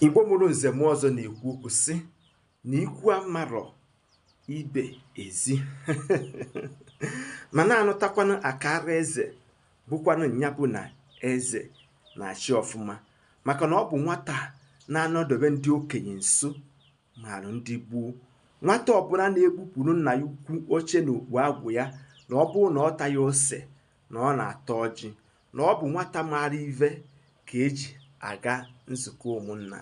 igbo mụrụ nze mụọ ọzọ na-ekwu okwu sị na ikwu amarọ ibe ezi ma na-anụtakwanụ akara eze bụkwanụ nya bụ na eze na-achị ọfụma maka na ọ bụ nwata na-anọdobe ndị okenye nso marụ ndị gboo nwata ọbụla na-ebupụrụ nna ya ukwu oche na okpu agụ ya na ọ bụrụ na ọ taghị ose na ọ na-ata ọjị na ọ bụ nwata maara ive ka eji aga nzukọ ụmụnna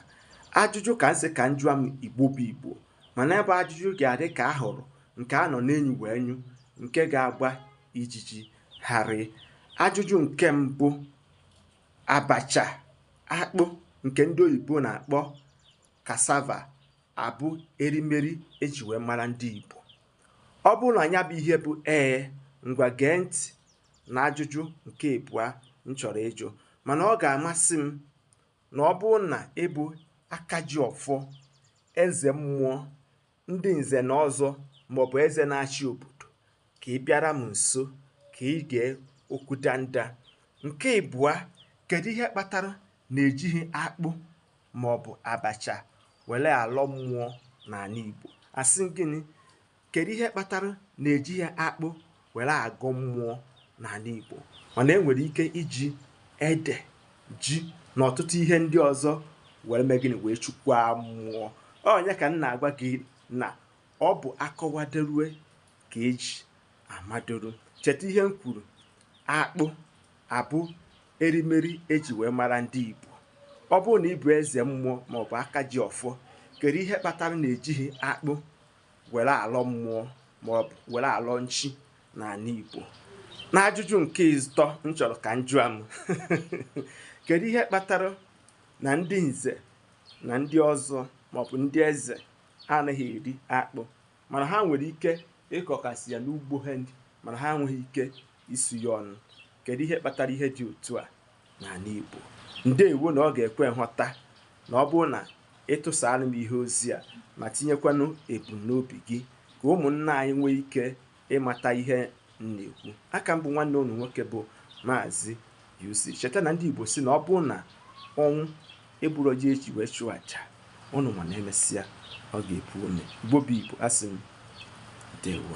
ajụjụ ka m sị ka m jụa m igbo bụ igbo mana ebe ajụjụ ga-adị ka ahụrụ nke a nọ n'enu wee nyụ nke ga-agba ijiji gharịị ajụjụ nke mbụ abacha akpụ nke ndị oyibo na-akpọ cassava abụ erimeri eji wee mara ndị igbo ọ bụrụ na nya bụ ihe bụ ee ngwa gee ntị na ajụjụ nke ịbụa m chọrọ ịjụ mana ọ ga-amasị m na ọ bụrụ na ị bụ aka ji ọfọ eze mmụọ ndị nze na ọzọ maọbụ eze na-achị obodo ka ị bịara m nso ka ị gee okwu danda nke ịbụa kedu ihe kpatara na ejighị akpụ maọbụ abacha were alọ mmụọ n'anị Igbo asị m gịnị kedu ihe kpatara na ejighị akpụ were agọ mmụọ n'anị Igbo mana e nwere ike iji ede ji na ọtụtụ ihe ndị ọzọ were mee gịnị wee chukwa mmụọ onye ka m na-agwa gị na ọ bụ akọwaderue ka eji amadoro cheta ihe m kwuru akpụ abụ erimeri eji wee mara ndị Igbo ọ bụrụ na ị bụ eze mmụọ maọbụ aka ji ọfọ kedu ihe kpatara na ejighị akpụ were alọ mmụọ maọbụ were alọ chi n'anị Igbo n'ajụjụ nke ịtọ m chọrọ ka m jụa m kedu ihe kpatara na ndị nze na ndị ọzọ maọbụ ndị eze anaghị eri akpụ mana ha nwere ike ịkọkasị ya n'ugbo ha mana ha enweghị ike isu ya ọnụ kedu ihe kpatara ihe dị otu a n'anị Igbo ndewo na ọ ga-ekwe nghọta na ọ bụrụ na ị tụsaara m ihe ozi a ma tinyekwanụ ebumnobi gị ka ụmụnna anyị nwee ike ịmata ihe m na-ekwu aka m bụ nwanne unu nwoke bụ maazị UC cheta na ndị Igbo sị na ọ bụrụ na ọnwụ egburọ ji eji wee chụọ aja unu ma na emesịa ọ ga-epu ome Igbo bụ Igbo asị m ndewo